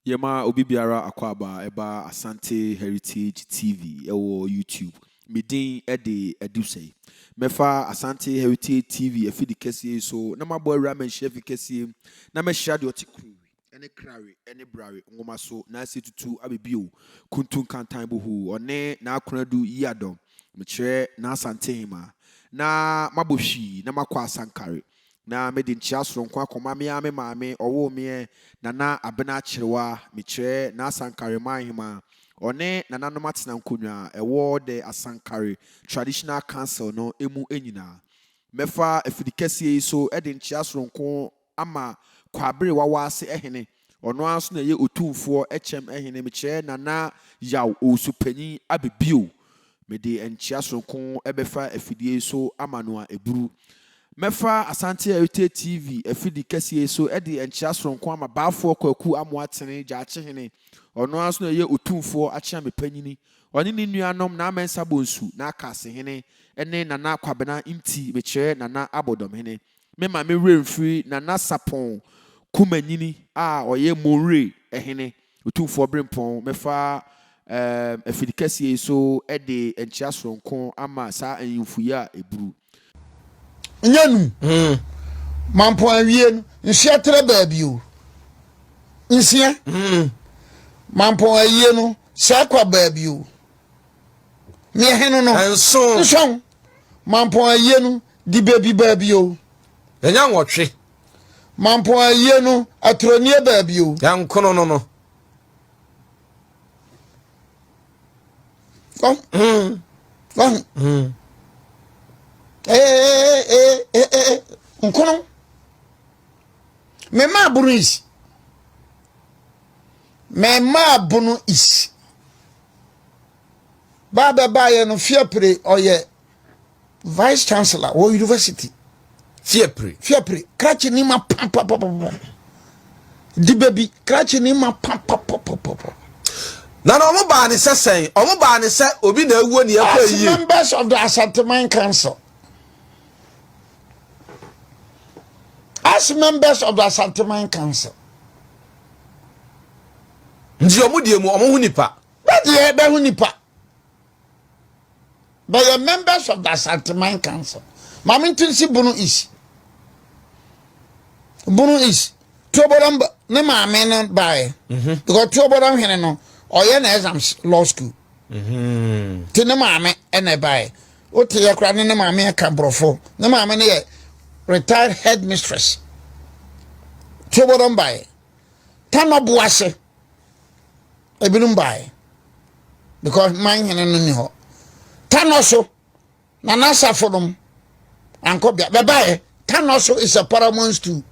Yɛma obi biara akwaaba a ɛba Asante Heritage TV wɔ YouTube. Me din de Adusei. Mɛfa Asante Heritage TV afidi kɛseɛ yi so na mabɔ awura manhyia fi kɛseɛ mu na mɛhyira deɛ ɔte kuro ne krare ne brare nwoma so na ase tutu abɛbio kuntu nkantan bohu ɔne n'akonadu yiadɔm mekyerɛ n'asantehema na mabɔ hwii na makɔ asankare Na mede nkyea soronko akɔma me ara me maame ɔwoo me ɛ, Nana Abena Kyerewaa, mekyerɛ, N'Asankare man hema, ɔne nananom atena nkonnwa a ɛwɔ The Asankare Traditional Council no mu nyinaa. Mɛfa afidikɛseɛ yi so de nkyea soronko ama Kwaabere Wawaase Hene Ɔno ara nso na ɛyɛ Otumfoɔ kyɛm Hene. Mekyerɛ Nana Yaw Owusu-Panyin Abe bio. Mede nkyea soronko bɛfa afidie yi so ama no a ɛburu. Mɛfa Asante Heritage TV afidi kɛseɛ yi so de nkyea soronko ama Baafoɔ Kwaku Amoah Tene Gyaakyehene. Ɔno ara nso na ɛyɛ Otumfoɔ Akyeame Panyini. Ɔne ne nuanom Naa Mensah Bonsu, Naa Kaase Hene ne Nana Kwabena Nti. Mekyerɛ Nana Abɔdɔmhene memma me werɛ mfiri Nana Sapɔn Kumanyini a ɔyɛ Monwire Hene Otumfoɔ Berempɔn. Mɛfa ɛɛm afiri kɛseɛ yi so de nkyea soronko ama saa ahemfo yi a ɛburu. Nya num. Hmm. Mampɔn awie no, nhyia trɛ baabi o. Nsia. Hmm. Mampɔn ayie no, saa kwa baabi o. Neɛ heno no. Nson. Nson. Mampɔn ayie no di baabi baabi o. Yɛnya nwɔtwe. Mampɔn ayie no aturo nie baabi o. Yɛnkono no no. Wahu. Mm. Wahu. Mm. Ee eh, ee eh, ee eh, ee nkono. Mema abunu isi. Mema abunu isi. Baa bɛbaeɛ no Fiapre ɔyɛ vice chancellor wɔ university. Fiapre Fiapre krakye ni ma papapapapɔ di bɛbi krakye ni ma papapapapɔ. Na na wɔn baa ne sɛ sɛn wɔn baa ne sɛ obi na awuo ne ɛkɔ yie. As members of the Asanteman Council. as members of the Asanteman Council. Nti wɔn deɛ mu wɔn ho nipa. Bɛdeɛ bɛho nipa. Bɛyɛ members of the Asante Mine Council. Maame Ntinsi Bunu East. Bunu East. Tuoboram ne maame no baeɛ. Mhm. Because Tuoboram hene no ɔyɛ na exams law school. Mhm. Ti ne maame ɛna ɛbaeɛ. Wote yɛ kora ne ne maame ɛka borɔfo. Ne maame no yɛ retired headmistress. Tuoboram baeɛ. Tanɔbo ase. Ebinom bae because man hene no ni hɔ. Tanɔ so na n'asafo nom ankɔ bia bɛbaeɛ. Tanɔ so is a paramount stool.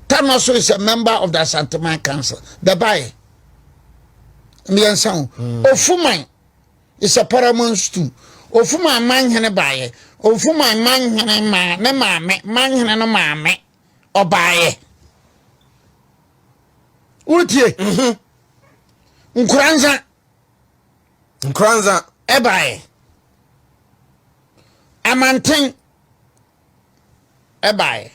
Tanɔ so is a member of the Asanteman Council. Bɛbaeɛ. Mmiɛnsa o. Hmm. Ofuman is a paramount stool. Ofuman man hene baeɛ. Ofuman man hene maa ne maame man hene no maame. ɔbaeɛ wotie mhm. nkoransa nkoransa ɛbaeɛ amanten ɛbaeɛ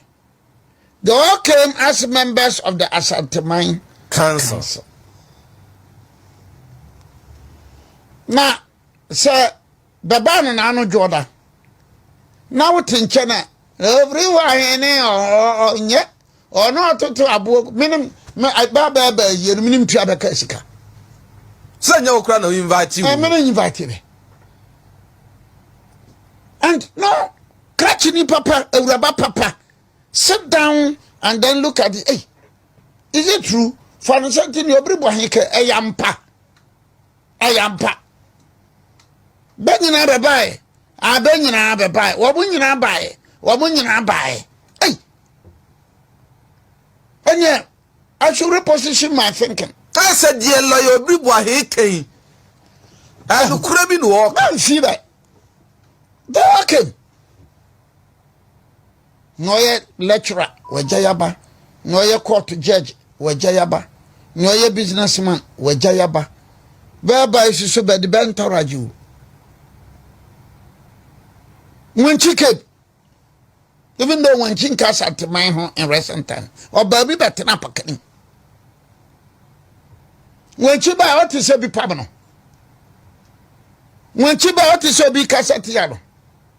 they all came as members of the asanteman council, council. na sɛ Da bɛn no na ano dwo ɔda na wote nkyɛn a ɛfiri hɔ ahene ɔnyɛ ɔno ɔtoto aboɔ menem baabɛɛbɛɛ yie no menem tua bɛka sika sɛ nyɛ wokora na woinvite wo mene invite me and no krakyini papa awuraba papa sit down and then look at the hey, is it true fa no sɛ nti ne ɔbere bɔ he kɛ ɛyɛ mpa Ɛyɛ ampa. Bɛ nyinaa bɛbaeɛ. A bɛ nyinaa bɛbaeɛ. Wɔn nyinaa baeɛ. Wɔn nyinaa baeɛ. Ei! Ɛnyɛ, I should reposition my thinking. Kaa sɛ deɛ lɔya obi boahe kɛn. Ɛnukura bi na ɔɔka. Bɛmfii bɛ. They all came. Nea ɔyɛ lecturer, wɔagya yaba. Nea ɔyɛ court judge, wɔagya yaba. Nea ɔyɛ businessman, wɔagya yaba. Bɛɛba yi soso bɛde bɛntaragye o. Wankyi keb. Even though wankyi nka Asanteman ho in recent time. Ɔbaa bi bɛtena pakani. Wankyi baa ɔte sɛ bi pam no. Wankyi baa ɔte sɛ obi kasa tia no.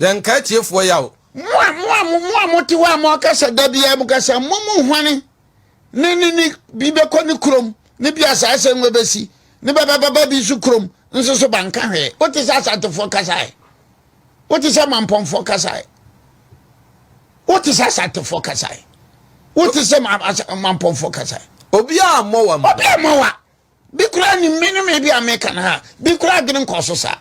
Yɛn nkae tiefoɔ yaw. Mo a mo a mo a mote hɔ a moakasa da biara mu kasa mo mu hwane ne ne ne bi bɛkɔ ne kurom ne bi asaasɛ ngo bɛsi ne babababa bi nso kurom nso so banka hwee wote sɛ asantefoɔ kasae wote sɛ mampɔnfoɔ kasae wote sɛ asantefoɔ kasae wote sɛ mampɔnfoɔ kasae obiara mmɔ wa obiara mmɔ wa bi koraa nim me ne me bi a meka no a bi koraa adwene nkɔ so saa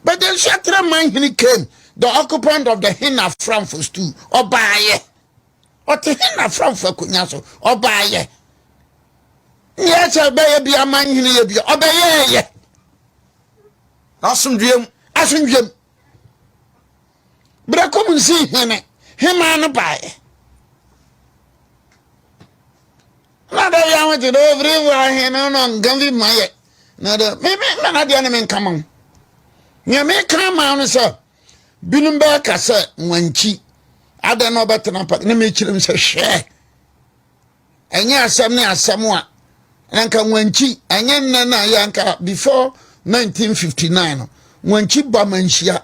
but then so atena man hene came the occupant of the hen aframfo stool ɔbaayɛ ɔte hen aframfo akonnwa so ɔbaayɛ neɛ sɛ bɛyɛ bi ama hene yɛ bi ɔbɛyɛɛyɛ asomdwuam asomdwuam berɛ kɔm nsi hene hemaa no baeɛ Na da bi ahotse dɛ ofiri wɔ ahe no na ɔnka mfi mu ayɛ. Na dɛ me me ma na deɛ ne me nka ma wo. Nea meka ama wo no sɛ binom bɛka sɛ wankyi adɛn na ɔbɛtena pa na mekyerɛ mu sɛ hwɛ ɛnyɛ asɛm ne asɛm a na nka wankyi ɛnyɛ nnɛ na yɛ nka before 1959 no wankyi ba manhyia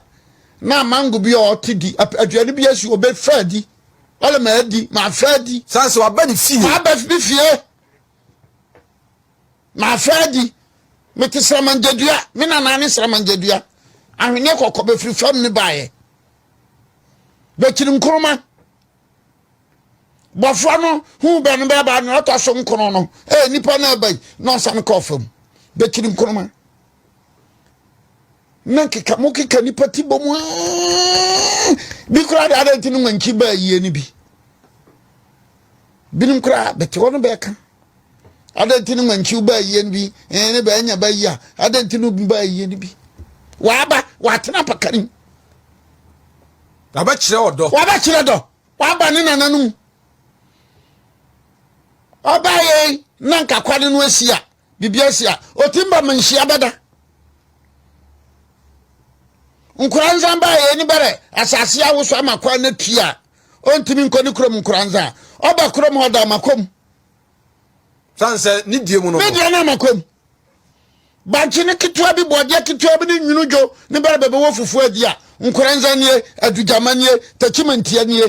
na mango bi a ɔte di aduane bi asi ɔbɛfa di Wale ma adi ma afɛ adi. San sɛ waba ne fie. Waba ne fie ma afɛ adi. Mete sramangyadua me nana ne sramangyadua ahweneɛ kɔkɔ bɛfiri fam ne baeɛ bɛkyiri nkoroma bɔfoɔ no hu bɛ no bɛba no ɔtɔ so nkono no ɛyɛ nipa no aba yi na ɔsane kɔɔ fam bɛkyiri nkoroma na nkeka mo keka nipa ti bɔ mu bi koraa de adan ti no mankyi baa yie no bi binom koraa bɛte hɔ no bɛka adan ti no mankyi baa yie no bi ɛn ne bɛanya ba yi a adan ti no baa yie no bi waba watena pakari wabɛkyerɛ ɔdɔ wabɛkyerɛ dɔ waba ne nananom ɔbaa yɛn na nkakwa de no asi a biribi asi a ɔtim ba ma nhyia bɛda nkora nsan baa yɛn ni bɛrɛ asase awoso ama kwan no tui a ɔntumi nkɔ ne kurom nkora nsan a ɔba kurom hɔ da amakom sane sɛ ne deɛ mu no ne deɛ no amakom bankye ne ketewa bi bɔɔdeɛ ketewa bi ne nwunu dwo ne bɛrɛ bɛbɛwɔ fufuo adi a nkora nsan nie adugyama nie takyimantia nie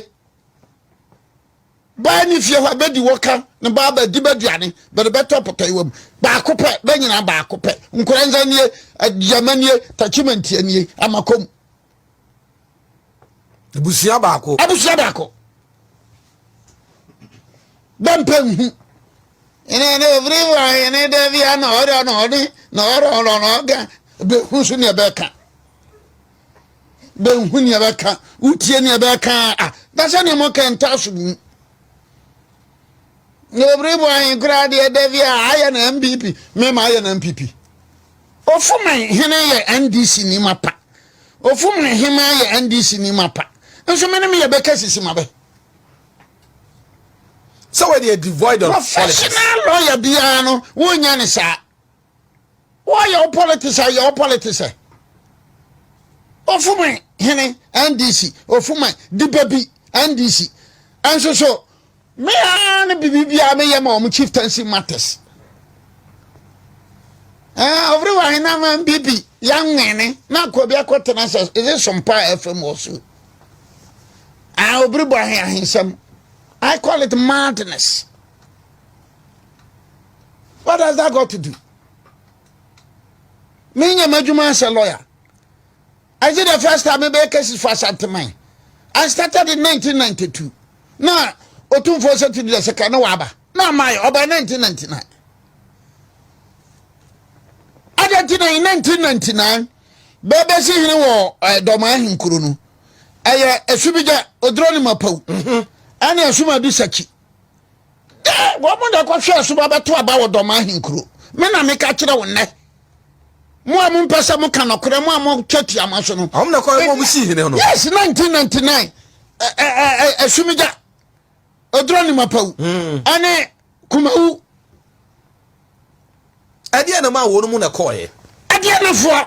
Baa ne fie hɔ a, bɛdi wɔ ka ne baa bɛ di bɛduane, bɛde bɛtɔ pɔtɔyewa mu. Baako pɛ, bɛ nyinaa baako pɛ. Nkoranza nie, Aduama nie, Takyimantia nie, Amakom. Abusua baako. Abusua baako. Bɛ mpɛ nhu. Ɛnɛ ne ofiri wa ɛne dɛ bia na ɔdɔ na ɔne na ɔdɔ ɔdɔ na ɔga bɛ hu so ne ɛbɛka. bɛnhu nea bɛka wotie nea bɛka a na sɛ nea mɔka ntaa so bu mu na obiri bɔ ahen koraa deɛ da bi a ayɛ na mpp mema ayɛ na mpp ɔfoma hene yɛ ndc ni ma pa ɔfoma hema yɛ ndc ni ma pa nso mene meyɛ bɛka sisi ma bɛ sɛ wɔde devoid of professional lawyer biara no wonya ne saa wɔyɛ wo politics a yɛ wo politics ɛ ofuma hene ndc ofuma diba bi ndc ɛnso so mea ne biribiara meyɛ ma wɔn chieftaincy matters ɛɛ ɔfiri wɔ ahena ma bibi yɛnwene na akɔ bi akɔ tena sɛ ɛdze sompa a ɛfɛ mu ɔso ɛɛ obiri bɔ ahe ahensɛm i call it madness. what has that got to do me nya m'adwuma as a lawyer is it the first time mebɛyɛ cases for asanteman i started in 1992 na ɔtumfoɔ sɛ tidi dɛ sɛ ka ne waaba na amae ɔbɛn 1999 adɛ nti na in 1999 bɛbɛsi hene wɔ eh, dɔma ahenkuro no ɛyɛ ɛsu bi gya ɔdurɔ ne mapaw mhm. ɛne ɛsoma bi sakyi wɔn na ɛkɔhwɛ ɛso ba bɛto aba wɔ dɔm ahenkuro me na meka kyerɛ wo nnɛ mo a mompɛ sɛ moka nɔkorɛ mo a motwa tiama so no ɔm na kɔɛ mo si hene no yes 1999 asumigya ɛdura ne mapawu hmm. ɛne kumawu ɛdeɛ na ma wɔn mu na kɔɛ ɛdeɛ nafoɔ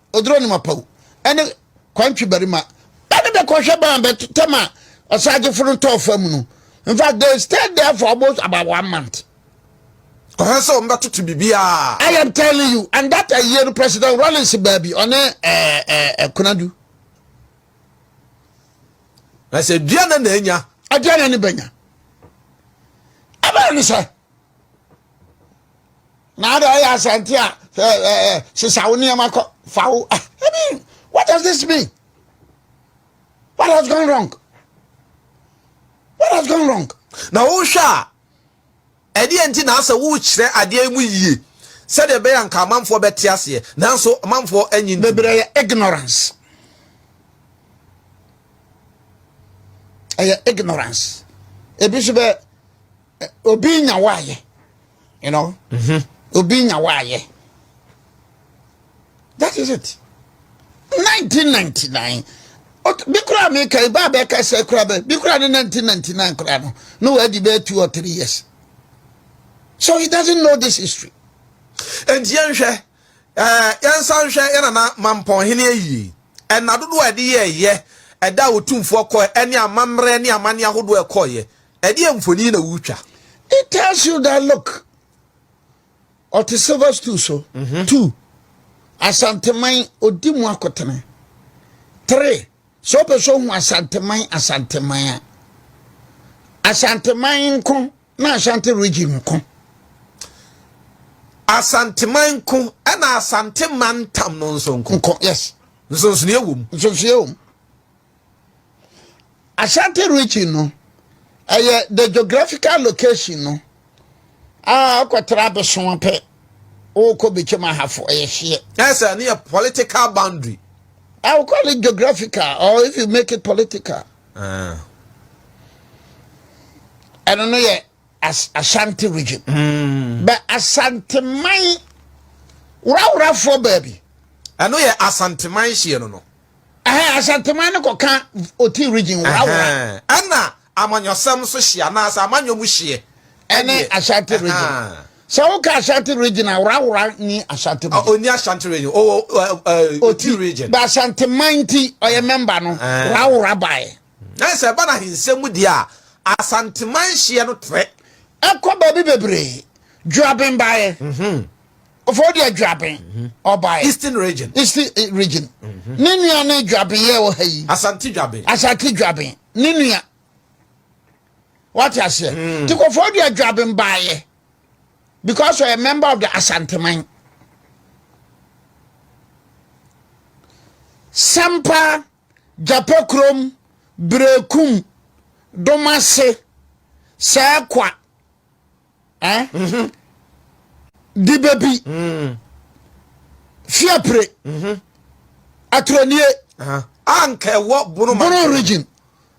oduro ne mapawu ne kwantwi barima ba no bɛkɔhwɛ ban bɛtɛm a ɔsagyefo no tɔɔ fam no in fact they stayed there for almost about one month kɔhwɛ sɛ wɔn bɛtoto biribiara. i am telling you and that ɛyɛ no president rollins baabi ɔne ɛɛ eh, ɛɛ eh, ɛkunadu. Eh, na sɛ dua na na enya. ɛdua na ne bɛnya ɛbɛn ne sɛ. na ada ɔyɛ asante a sesa wo nneɛma kɔ fa wo ah, i mean what does this mean what has gone wrong what has gone wrong na wohwɛ a ɛdeɛ nti na asɛ wokyerɛ adeɛ mu yie sɛdeɛ ɛbɛyɛ nka amanfoɔ bɛte aseɛ nanso amanfoɔ anyi bebree yɛ ignorance ɛyɛ ignorance ebi nso bɛ obi nya waayɛ you know mhm. obi nya waayɛ that is it 1999 bi kura mi ka ibaa bɛ ka sɛ kura bɛ bi kura ne 1999 kura no no wadi bɛ two or three years so he doesn't know this history. nti yɛn hwɛ ɛɛ yɛn nsa nhwɛ yɛn nana mampɔn hene ayie ɛna dodoɔ a yɛde yɛ ɛyɛ ɛda a otumfoɔ kɔɛ ɛne amammerɛ ne amanne ahodoɔ ɛkɔɔyɛ. Ɛdeɛ mfoni na wotwa. It tells you that look ɔte silver stool so mm -hmm. two asanteman odi mu akotene three sɛ ɔpɛ sɛ ɔhu asanteman asanteman a asanteman nko na asante region nko asanteman nko ɛna asanteman tam no nso nko nko yes nsonsonoeɛ wɔ mu nsonsonoeɛ wɔ mu Ashanti region no ɛyɛ the geographical location no a ɔkɔtara abɛso pɛ ɔkɔ bɛkyɛm ahafo ɛyɛ hyeɛ. ɛsɛ ne yɛ political boundary. I will call it geographical or if you make it political. Uh. I don't know yet. As Ashanti region. Mm. But Asante man, wura wura for baby. I know yet Asante man she no no. Ɛhɛn, Asanteman no kɔ kã Oti Region wɔ Awora. Ɛhɛn, Nna amanyɔsɛm so hyeɛ anaasɛ amanyɔ mu hyeɛ. Ɛne Ashanti Region. Ɛhɛn. Sɛ wo ka Ashanti Region a, Awora nni Ashanti Region. Ɔnni Ashanti Region, ɔwɔ Oti, Oti Region. Ba Asanteman nti ɔyɛ mɛmba no, Ɛhɛn. Awora baeɛ. Ɛhɛn, Sɛ ɛba n'ahensɛm mu deɛ a, Asanteman hyeɛ no trɛ. Ɛkɔ baabi bebree, Juabin baeɛ. Ɛhɛn, ɔfɔ de adwaben ɔbaeɛ eastern region east eh, region mhm. ne nua ne dwaben yɛ wɔ ha yi asante dwaben asante dwaben ne nua wate aseɛ mm. nti kɔfɔ de adwaben baeɛ because ɔyɛ member of the asanteman sampa gyapa kurom berekum domase sɛɛkwa Eh? Mm-hmm. Di baby. Mm. Fiapre. Mm-hmm. Atronie. Uh-huh. Anka ɛwɔ Bono Bono region.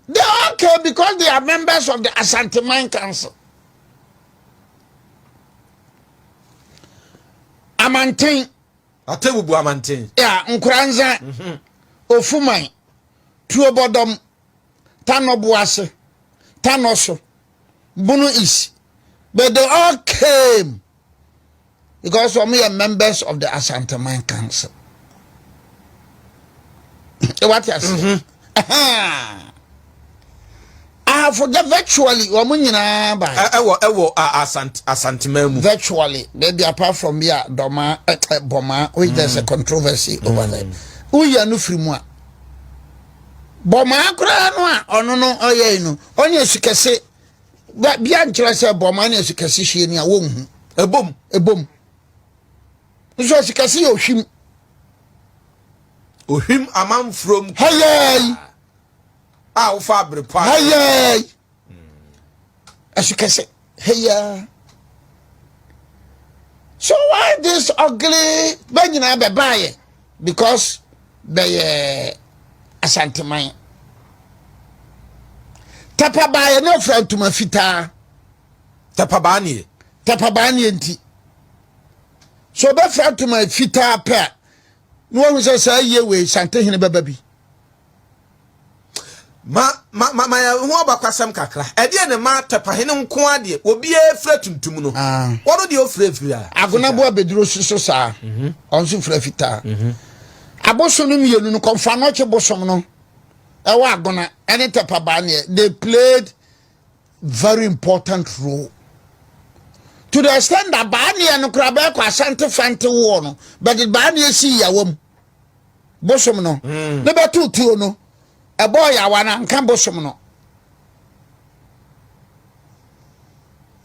They all came because they are members of the Ashanti Mine Council. Amantin. Atebubu Amantin. Yeah, Nkuranza. Mm-hmm. Ofumai. Tuobodom. Tanobuase. Tanoso. Bunu East. But they all came because wɔn yɛ members of the Asanteman Council. What you say? I forget virtually wɔn nyinaa ba. Ɛwɔ ɛwɔ asant Asanteman mu. Virtually maybe apart from bi a dɔma ɛ bɔma which there's a mm. controversy over mm. there. Wúyà no firi mu a. Bɔmaa koraa no a ɔno no ɔyɛe no, ɔne asukɛse bia nkyerɛ sɛ bɔmaa ne asukɛse hwie ni a wɔnhu. Ɛbom, ɛbom. Nso asukɛse yɛ ohwim. Ohwim amanfurom. Hɛyɛɛi. A wofa abere pa. Hɛyɛɛi. ɛsokɛsɛ heya so why this ugly bɛ nyinaa bɛbaayɛ because bɛyɛ asanteman tapa baayɛ ne ɔfira ntoma fitaa tapa baa neɛ tapa baa neɛ nti so ɔbɛfira ntoma fitaa pɛ a na wɔhu sɛ saa yie wei santehene bɛba bi ma ma ma ma yɛn ho abakɔsɛm kakra ɛdeɛ ne ma tɛpahene nko adeɛ obiara fira tuntum no ah. wɔn deɛ ofira fira. agonaboa abɛduro si so saa mhm. wɔn nso fira fitaa mhm. abosom no mmienu no kɔnfa nɔkye bosom no ɛwɔ agona ɛne tɛpabaa neɛ they played very important role to the extent that baa neɛ no koraa bɛɛkɔ asante fante woɔ no bɛde baa neɛ si yawa mu. bosom no hmm. ne bɛto tuo no ɛbɔɔ yawa no anka bosom no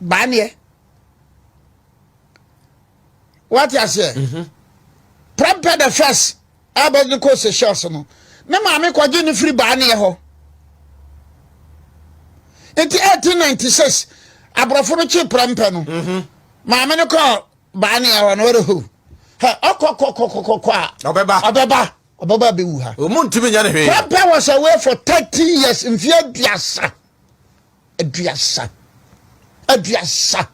baaneɛ wate aseɛ mhm. prɛmpɛ the first ɛbɛ ne kɔ seychelles no ne maame kɔgye ne firi baaneɛ hɔ nti 1896 aborɔfo no kye prɛmpɛ no mhm. maame no kɔɔ baa ne awa na ɔrɛ ho hɛ ɔkɔ kɔ kɔ kɔ kɔ kɔ a ɔbɛba ɔbɛba ɔbɛba abɛwu ha ɔmu ntumi nya ne hwee papa was away for thirty years mfie aduasa aduasa aduasa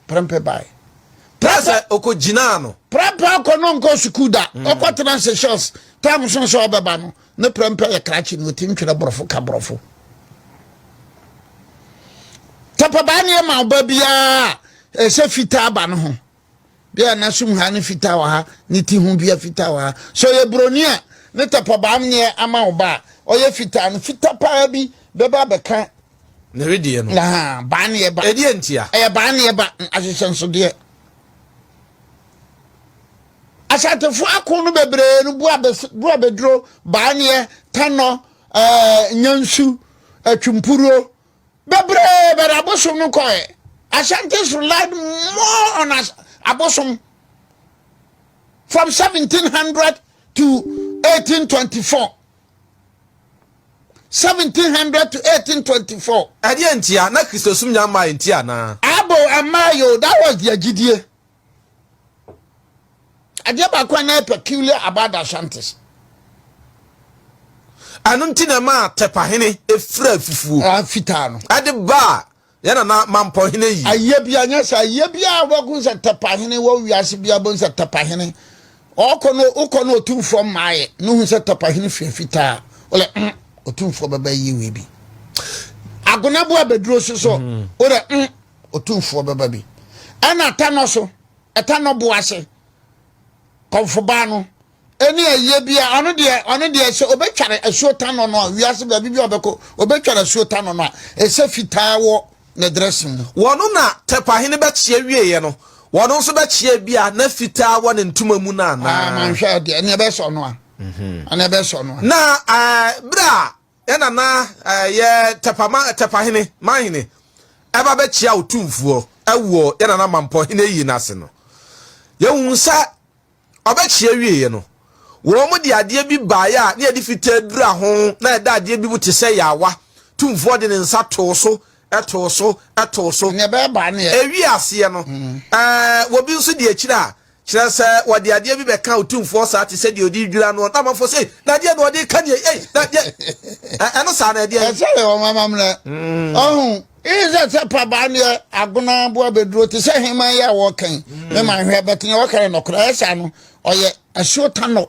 prɛmpɛ bae prɛmpɛ ɔkɔ gyinaa no prɛmpɛ ɔkɔ no nkɔ sukuu da ɔkɔ tena seychelles tam so sɛ ɔbɛba no ne prɛmpɛ yɛ krakye na ɔtim twerɛ borɔfo ka borɔfo tapabaa ne ɛma ɔba biara ɛsɛ fitaa ba no ho bia na sum ha ne fitaa wɔ ha ne ti ho bia fitaa wɔ ha so yɛ buroni a ne tapabaa neɛ ama wo ba a ɔyɛ fitaa no fita paa bi bɛba bɛka ne wedeɛ no na baa ne ɛba ɛdeɛ ntia ɛyɛ baa ne ɛba ahyehyɛ nsodeɛ Ashantifoɔ ako no bebree no Buabeduro, Baaneɛ, Tanɔ, eh, Nyansu, Atwimpuruo, bebree bɛde abosom no kɔɛ. Ashantis relied more on as, abosom from 1700 to 1824. 1700 to 1824. Ɛdeɛ ntia na Kristosom nya mmaa nti anaa? Abo ɛmmaa yo, that was their gyidie. adeɛ baako a na peculiar about the Ashantis ɛno nti na ɛma tɛpahene efura fufuo ah, fitaa no ɛde baa yɛn nana mampɔ hene yi ayɛ bi anyɛ sɛ ayɛ bi a wɔbɛko sɛ tɛpahene wɔ wiase bi abɔ sɛ tɛpahene ɔkɔ no wokɔ no ɔtumfoɔ mmaeɛ no hu sɛ tɛpahene fua fitaa wole mm, ɔtumfoɔ bɛbɛ yie wei bi agonaboa bɛduro so so mm. wodɛ mm, ɔtumfoɔ bɛba bi ɛna ɛtɛnɔ so ɛtɛnɔ bo ase kɔmfobaa no ɛne ayie bi a ɔno deɛ ɔno deɛ sɛ ɔbɛtware asuo tanɔ no a wiase baabi bi a ɔbɛkɔ ɔbɛtware asuo tanɔ no a ɛsɛ fitaa wɔ ne drɛse mu wɔno na tɛpahene bɛkyeɛ wieɛ no wɔno nso bɛkyeɛ bi a na fitaa wɔ ne ntoma mu no anaa ah, manhwɛ deɛ ɛne ɛbɛsɔ no a mhm. ɛne ɛbɛsɔ no a na eh, berɛ a Ɛna na yɛ tɛpama tɛpahene manhene ɛba bɛkyia wo tumfoɔ ɛwɔ yɛ nana mampɔ hene yie n'ase no yɛhu sɛ ɔbɛkyia wieɛ no wɔn mo de adeɛ bi baeɛ a ne yɛde fitaa dura ho na yɛda adeɛ bi mu te sɛ yɛawa tumfoɔ de ne nsa too so ɛtoo so ɛtoo so ɛwie aseɛ no mm. ɛɛ wɔbi nso de akyire a Kyerɛ sɛ, wɔde adeɛ bi bɛka Otumfoɔ saa te sɛ deɛ ɔde redwira noɔ, na amanfoɔ sɛ, Ei, na ɛdeɛn na ɔde reka nie yi? Ei, na deɛ ɛ, ɛno saa no ɛdeɛn? Ɛkyɛree wɔn amammerɛ. Ɔho, Ii sɛ sɛ pabaa neɛ agona aboa bɛduro te sɛ heman yi a wɔreka yi, me man hwɛ, bɛte neɛ wɔka no nɔkorɛ, ɛyɛ saa no, ɔyɛ asuo tanɔ.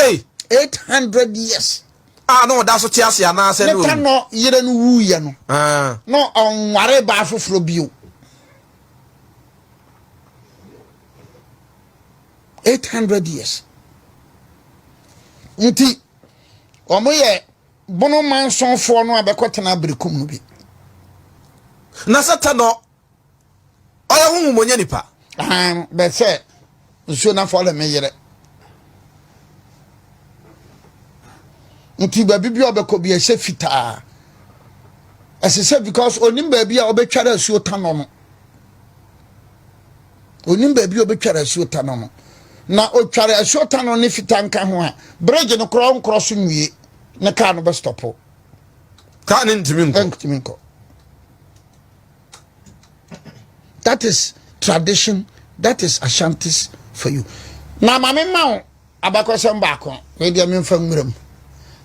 Ei! Eight hundred years. A na ɔda so te ase anaasɛ na owu. Nipa no yere no wuiɛ no. Ah. Na ɔnware baa foforɔ bio. Eight hundred years. Nti wɔn yɛ bono mansonfoɔ no a bɛkɔ tena abirikum no bi. Na sɛ tɛ no. ɔyɛ honhom ɔnyɛ nipa. ahan bɛ sɛ nsuo na fɔlɛ me yerɛ nti baabi bi a ɔbɛkɔ bi ɛhyɛ fitaa ɛsɛ sɛ because onim baabi a ɔbɛtwara asuo tanɔ no onim baabi a ɔbɛtwara asuo tanɔ no na ɔtware asuo tanɔ ne fitaa nka ho a bridge no korɔ nkorɔ so nwie ne kaa no bɛstɔpo kaa ne ntumi nkɔ that is tradition that is ashantis for you na ma me ma wo abakɔsɛm baako wei deɛ memfa nwura mu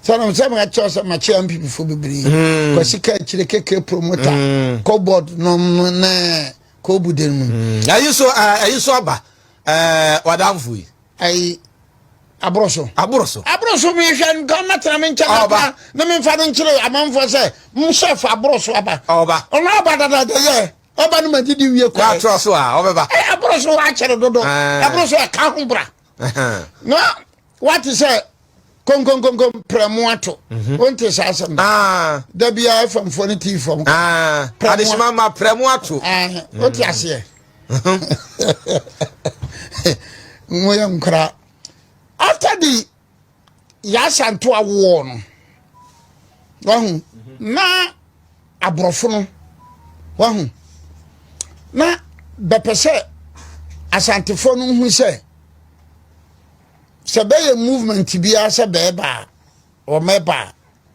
sɛnam sɛ mekyerɛ sɛ makyerɛ mpipifo bebree hmm. kwasi ka akyire keke promota hmm. cobord nom ne kɔbude no mu hmm. ayi so eh, ayi so aba eh, wadamfo yi ayi aboro so aboro so aboro so mehwɛ nka ɔmɛtena me nkyɛn aba na memfa no nkyerɛ amanfoɔ sɛ mhyɛ fa aboro so aba ɔba ɔno aba dadada yɛ ɔba no magye de wie kɔɛ atorɔ so a ɔbɛba aboro so akyɛre dodo aboro so ɛka ho bra na wate sɛ konkonkonko prɛmo ato mhm. wonte saa asɛm ah. da biaa famfoɔ no tii fam ah. adesoma ma prɛmo ato wote mhm. aseɛ moyɛ nkora after the yɛasanto awoɔ no wahu na aborɔfo no wahu na bɛpɛ sɛ asantefoɔ no hu sɛ sɛ bɛyɛ movement biara sɛ bɛɛba a wɔmɛba a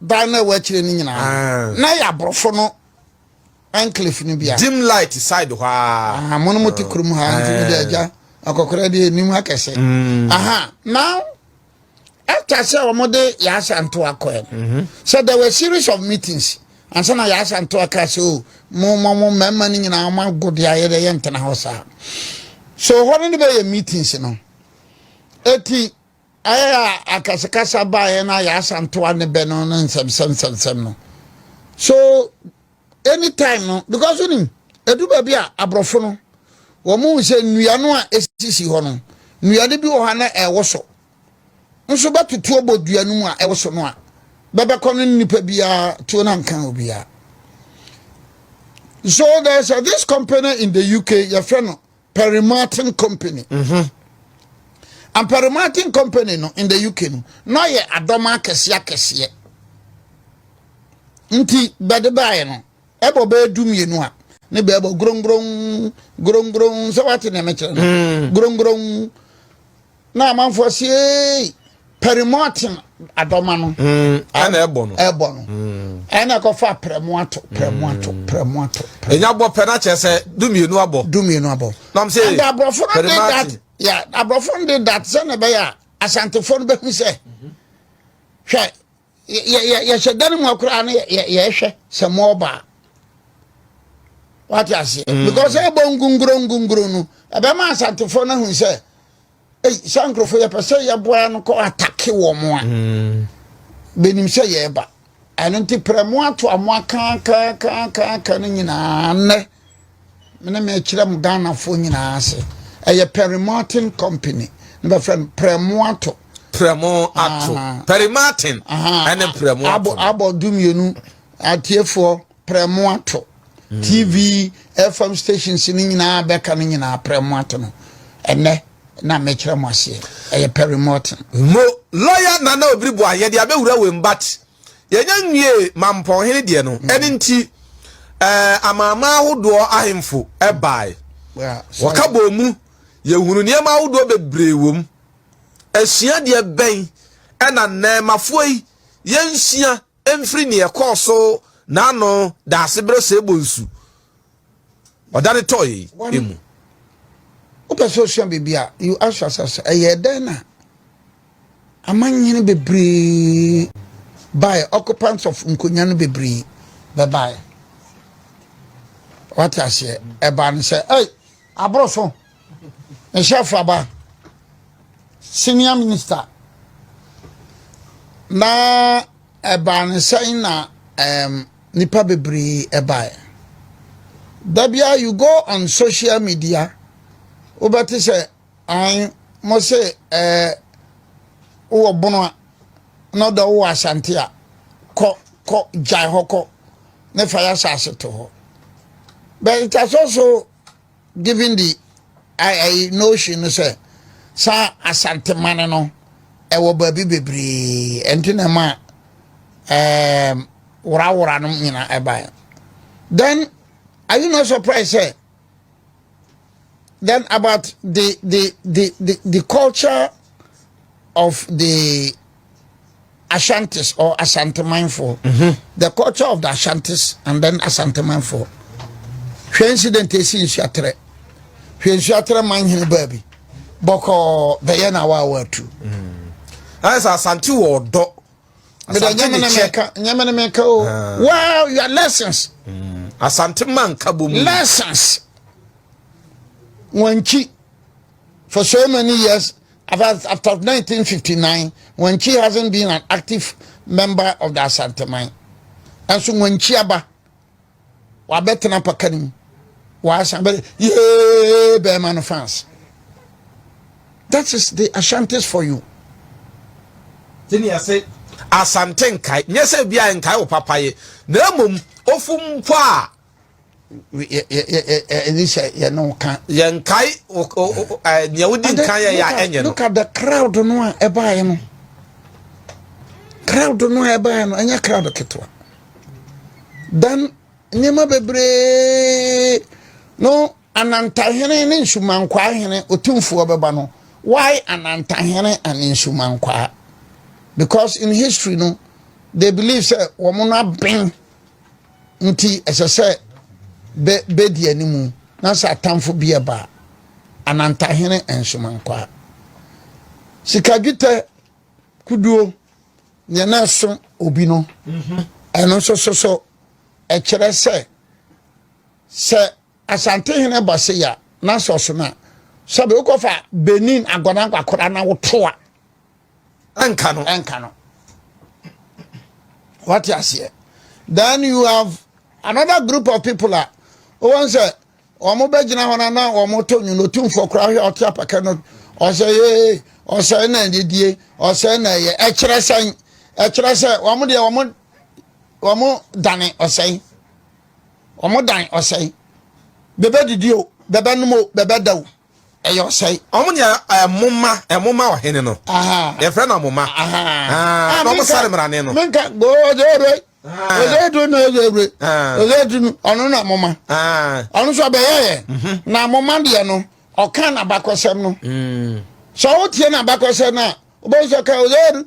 dan na ɛwɔ akyire no nyinaa ah. na yɛ aborɔfo no enclave no bia dim light side hɔ a mo no mote kurom ha nti mede eh. agya akɔkora deɛ anim akɛsɛ mm. aha now after sɛ wɔde yɛasa nto akɔɛ no mhm. sɛ there were series of meetings ansa na yɛasa nto aka sɛ o oh, mo mo mo mmarima no nyinaa wɔn ago de ayɛ dɛ yɛntena hɔ saa so hɔ no ne bɛyɛ meetings no eti Ayɛ a akasakasa baeɛ no a yɛasantoa ne bɛ no ne nsɛmsɛm nsɛmsɛm no so anytime no because wonim ɛdu baabi a aborɔfo no wɔn mu sɛ nnua no a ɛsisi hɔ no nnua no bi wɔ hɔ na ɛwɔ so nso bɛtotoɔ bɔ dua no mu a ɛwɔ so no a bɛbɛkɔ no nnipa biara tuo no anka obiara so there's a, this company in the UK yɛfrɛ no Perry Martin Company. Mhm. And Perry Martin Company no in the UK no, na ɔyɛ adɔm akɛseɛ akɛseɛ. Nti bɛde baeɛ no, ɛbɔ bɛyɛ du mmienu a, ne bɛɛbɔ grongron grongron sɛ wate nea mekyerɛ no mm. grongron na amanfoɔ se ei pɛrimɔɔten adɔma no mm, ɛna ɛbɔ no ɛbɔ no mm. ɛna ɛkɔfa prɛmo ato prɛmo ato mm. prɛmo ato ɛnya bɔ pɛ na kyerɛ sɛ dumienu abɔ dumienu abɔ nam sɛ ɛnna aborɔfo no de dat ya aborɔfo no de dat sɛ na ɛbɛyɛ a asantefoɔ no bɛhu sɛ hwɛ yɛhyɛ dan mu akora no yɛhwɛ sɛ mɔɔba a wate aseɛ mm. because ɛbɔ ngunguro ngunguro no ɛbɛma asantefoɔ no ahu sɛ ei sɛ nkurɔfoɔ yɛpɛ sɛ yɛboa no kɔ atake wɔ mo a mm. bɛnim sɛ yɛreba ɛno nti prɛ mo ato a mo akaakaakaakaaka no nyinaa nnɛ me ne mekyerɛ mo ghanafoɔ nyinaa ase ɛyɛ perry martin company ne bɛfrɛ no prɛmo ato prɛmo ato perry martin ɛne prɛmo ato abɔ du mmienu atiefoɔ prɛmo ato hmm. tv fm stations no nyinaa bɛka no nyinaa prɛmo ato no ɛnɛ na mekyerɛ mo aseɛ ɛyɛ perry martin mo lɔya nana obiri boayɛ de abɛwura wɔ mbat Yɛnya nwie mampɔnhene deɛ no, ɛne nti amanaman ahodoɔ ahemfo bae. Wɔka bɔɔ mu, yɛhunu nneɛma ahodoɔ bebree wɔ mu. Asuadeɛ bɛn ɛna nnɛɛmafoɔ yi yɛnsua mfiri neɛ ɛkɔɔ so n'ano daase berɛ sɛ ɛbɔ nsu ɔda ne tɔɔ yɛi mu? wopɛ sɛ osua biribi a you ask yourself sɛ ɛyɛ dɛn na Amannyene bebree bae, occupants of nkonya no bebree bɛbae. Wate aseɛ? Ɛbaa no sɛ, ɛy, aboro so, ɛhyɛ afraba, senior minister. Na ɛbaa no sɛ na um, nipa bebree ɛbae. Da bia you go on social media, wobɛte sɛ Ae, mo se eh, wowɔ bono a, na ɔdɔ wowɔ asante a, kɔ, kɔ, gyae hɔ kɔ, ne fa y'asase to hɔ. But it has also given the ae, notion no sɛ, saa asante mane no, ɛwɔ baabi bebree, ɛnti na ɛma um, worawora no nyina ɛbaeɛ. Then, are you not surprised sɛ, Then about the the the the, the culture of the Ashantis or Asantemanfo, mm-hmm. the culture of the Ashantis and then Asantemanfo. Hwɛ incident esi nsuatere. Hwɛ nsuatere man hene baabi. Bɔkɔ bɛyɛ na wa wa tu. Mm. Ayɛ sɛ Asante wɔ ɔdɔ. asante ne kyɛ nyame ne meka o ah. wow your lessons mm. asante ma nka bom lessons wanchi for so many years after 1959 wanchi hasn't been an active member of the asante mine and so wanchi aba wabɛtena paka no mu wasan bɛ yee bɛrima no fans that is the ashantis for you tini ase asante nkae nyɛ sɛ bi a nkae wo papa ye na mmom ofu mpo a ɛne sɛ yɛne wo ka yɛnkae nea wodi nka yɛ yɛ ɛnyɛ no look at the crowd no a ɛbaeɛ no crowd no a ɛbaeɛ no ɛnyɛ crowd ketewa Dan nneɛma bebree no Anantahene ne Nsumankwaa hene Otumfoɔ bɛba no why Anantahene and Nsumankwaa because in history no they believe sɛ wɔn no aben nti ɛsɛ sɛ bɛ bɛdi anim na sɛ atamfo bi ɛba Anantahene and Nsumankwaa sika dwetɛ Koduo, deɛ na ɛso obi no, ɛno nso so so ɛkyerɛ sɛ sɛ Asantehene ba se ya na sɛ ɔso no a sɛbe wokɔfa Benin agɔnankwakoraa na wotoa ɛnka no ɛnka no wate aseɛ then you have another group of people a wɔn sɛ wɔn bɛgyina hɔ na na wɔn to nwom otumfoɔ koraa hwɛ ɔte apaka no ɔsɛ yee ɔsɛ na ɛdedie ɔsɛ na ɛyɛ ɛkyerɛ sɛn ɛkyerɛ sɛ wɔn deɛ wɔn wɔn dane ɔsɛn wɔn dan ɔsɛn bɛbɛ didi o bɛbɛ nom o bɛbɛ da o. Ɛyɛ ɔsɛe. Wɔn nea ɛmoma ɛmoma ɔhene no. Yɛfrɛ no amoma. Na wɔn sare mmarane no. Menka go ɔdze ewure. Ɔdze edu na ɔdze ewure. Ɔdze edu no ɔno na amoma. Ɔno nso ɔbɛyɛ yɛ. Mhm. Na amoma deɛ no ɔka n'abakɔsɛm no. Mm. Sɛ wotie n'abakɔsɛm no a wobɛhu sɛ ɔka ɔdze edu.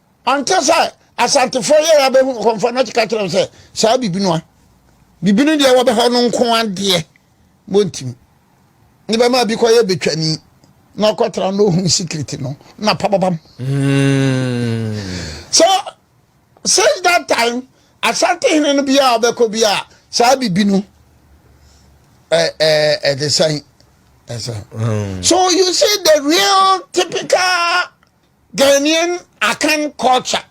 Ɔnte sɛ Asantefoɔ yɛ a bɛhu kɔmfoɔ na kyeka kyerɛ sɛ saa bibi no a bibi no deɛ wɔbɛ hɔ no nko adeɛ bɔntim ne bɛma bi kɔyɛ bɛtwani na ɔkɔtra na ɔhu secret no na pababam hmm. so since that time Asante hene no biaa ɔbɛkɔ bi a saa bibi no ɛde sɛn ɛsɛ so you see the real typical Ghanaian Akan culture.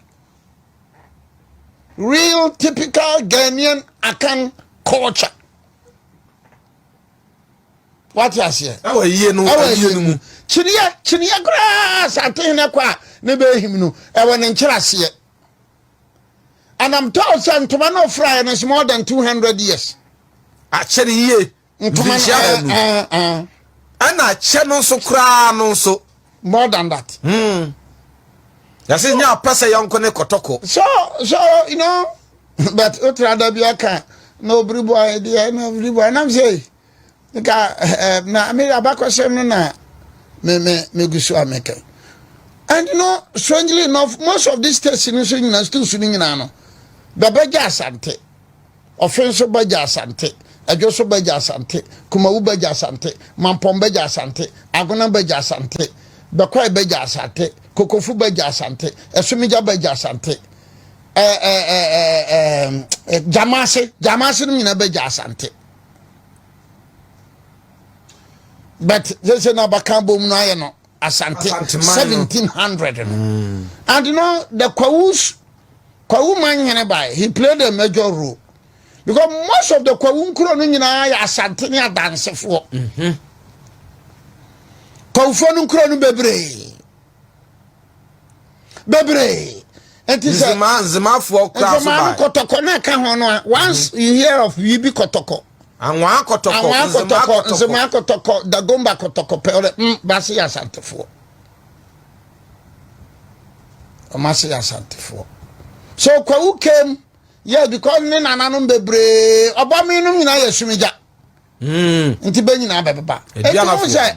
Real typical Ghanaian Akan culture. What you say? Ewa yie no, ewa yie no mu. Kyiniya, kyiniya koraa sante hene kɔ a ne bɛ ehim no, ewa ne nkyɛn aseɛ. And I'm told sɛ ntoma no ofura yɛ no is more than 200 years. Akyɛ ne yie. ntoma no eh, eh, ɛna akyɛ no nso koraa no nso more than that hmm. yɛse nya apɛ sɛ yɛnko ne kɔtɔkɔ so so you know but wotra da bi aka na obiri bɔ ayɛ deɛ na obiri bɔ nam sɛ nka eh, na me abakɔsɛm no na me me me gu so a meka and you know strangely enough most of these states no so nyina schools no nyinaa no bɛbɛgya asante Ɔfe nso Bagya Asante, Adwo nso Bagya Asante, Kumawu Bagya Asante, Mampɔn Bagya Asante, Agona Bagya Asante, Bɛkwae Bagya Asante, Kokofu Bagya Asante, Asumigya Bagya Asante, Gyamase, Gyamase no nyinaa Bagya Asante. But sɛ sɛ na abakan bom no ayɛ no Asante, Asanteman no. 1700 no. And you know, the Kwawus, Kwawu man hene by, he played a major role. Because most of the Kwawu nkuro no nyinaa yɛ Asante ne adansefoɔ. Mhm. Kwawufoɔ no nkuro no bebree. Bebree. Nti sɛ Nzema, Nzemafoɔ kura so nzema no by. kɔtɔkɔ no ɛka ho no a, once you hear of Wibi kɔtɔkɔ, Anwa akɔtɔkɔ, Anwa akɔtɔkɔ, Nzema akɔtɔkɔ, Dagomba akɔtɔkɔ, Pɛwrɛ, mm, baase yɛ Asantefoɔ. Wɔn ase yɛ Asantefoɔ. So Kwawu came, yes, because ne nananom bebree, ɔbɔmi nom nyinaa yɛ Sumigya. Hmm. Nti bɛ nyinaa bɛbeba. Ɛdi anafoɔ.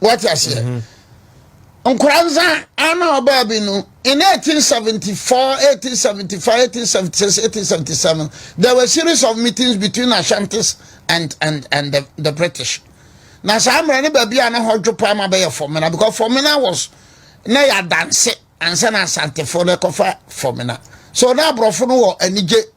wate aseɛ mhm. nkora nsa ana ɔbaa bi no in 1874 1875 1876 1877 there were series of meetings between ashantis and and and the, the british na saa mmerɛ no baabi a na hɔ dwo paa ma bɛyɛ fɔmena because fɔmena was na yɛ adanse ansa na asantefoɔ no ɛkɔfa fɔmena so na aborɔfo no wɔ anigye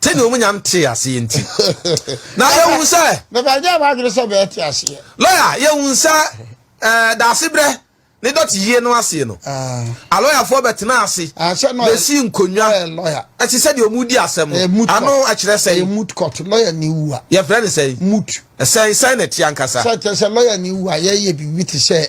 Sɛnea wɔn nyinaa ntee aseɛ nti. Na yɛhunu sɛ. Bɛbɛ nyɛ wɔn adwene sɛ bɛte aseɛ. Lɔya, yɛhunu sɛ ɛɛ daasebrɛ ne dɔte yie no aseɛ no. Ah. Alɔyafoɔ bɛtena ase. Ah, bɛsi nkonnwa. Ɛte sɛ deɛ wɔn di asɛm no. Ano ɛkyerɛ sɛ. Mut kɔt lɔya ne wu a. Yɛfrɛ ne sɛ. Mut. Ɛsɛn sɛn na ɛte ankasa. Sɛ kyerɛ sɛ lɔya ne wu a yɛyɛ biribi te sɛ.